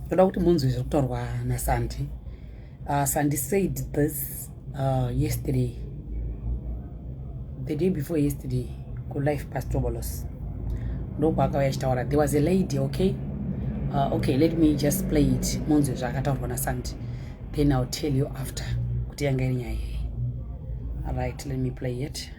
ndoda kuti munzwe zviri kutaurwa nasandi uh, sandi said this uh, yesterday the day before yesterday kulife pastobolos ndokwaakauya achitaura there was a lady okay uh, okay let me just play it munzwe zvaakataurwa nasandi then ill tell you after kuti yanga iri nyaya yei right let me play it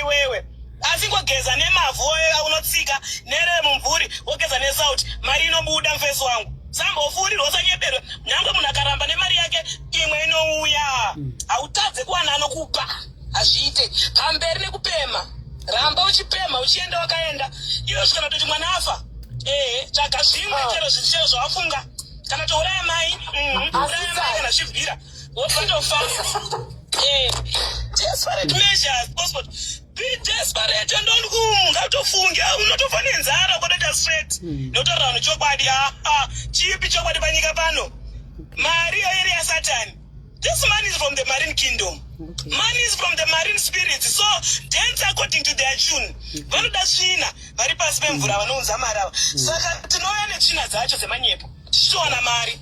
iwewe asi ngogeza nemavhu aunotsika nere mumvuri wogeza nesauti mari inobuda mfesi wangu sambofurirwa usanyeberwe nyange munhu akaramba nemari yake imwe inouya hmm. hautadze kuwana anokupa hazviite pamberi nekupema ramba uchipema uchienda wakaenda iyo zvikana kutoti mwana afa ee tsvaga zvimwe ah. chero zvichero zvawafunga kana touraya mai mm, uraya mai kana zvibvira What kind of fast? Eh, desperate measures. Boss, but be desperate and don't go. Ngatofunge, ah, unotofa nenzara ukotoita straight. Mm. Notaura vanhu chokwadi, ah, ah, chipi chokwadi panyika pano. Mari yoiri yaSatani. This man is from the marine kingdom. Okay. Man is from the marine spirit. So dance according to their tune. Vanoda tsvina, vari pasi pemvura vanounza mari ava. Saka tinouya netsvina dzacho dzemanyepo. Tichitowana mari.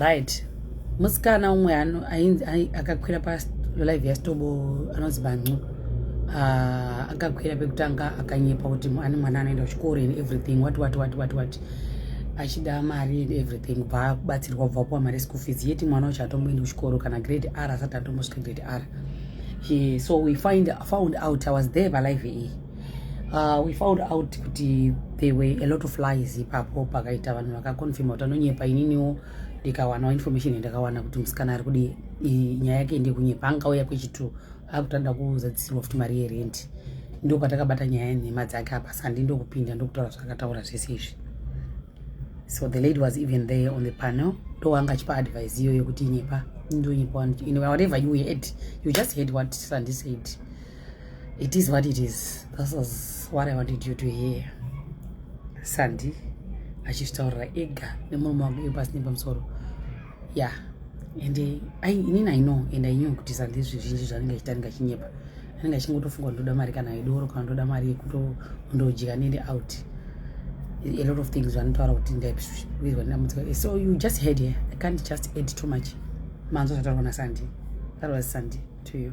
right musikana umwe ainzi akakwira palive yastobo anonzi bancu ah, akakwira pekutanga akanyepa kuti ane mwana anoenda kuchikoro and everything wat wat wat wat wat achida mari and everything bva kubatsirwa bva kuwa mari school fees yeti mwana wacho atomboendi kuchikoro kana grade r asati atombosvika grade r so we find, found out i was there palive iyi Uh, we found out kuti there were a lot of lies ipapo pakaita vanhu vakaconfirma kuti anonyepa ininiwo ndikawanawo information yandakawana kuti musikana ari kudi nyaya yake ndekunyepa angauya kwechitu akutanda kuzadzisirwa futi mari yerenti ndo patakabata nyaya yenhema dzake apa sandi ndokupinda ndokutaura zvakataura zvese izvi so the lady was even there on the panel ndo wanga achipa advice iyo yekuti inyepa ndonyepa whatever you heard you just heard what sandi said it is what it is this was what i wanted you to hear sandi achizvitaurira ega nemurume wangu iyo pasi nepamusoro ya and inini i know and i knew kuti sandi zvizhinji zvanenge achita anenge achinyepa anenge achingotofunga ndoda mari kana yedoro kana ndoda mari yekutondodya nende out a lot of things vanotaura kuti ndaizwa ndamutsa so you just head here i can't just add too much manzwa zvataurwa nasandi that was sandi to you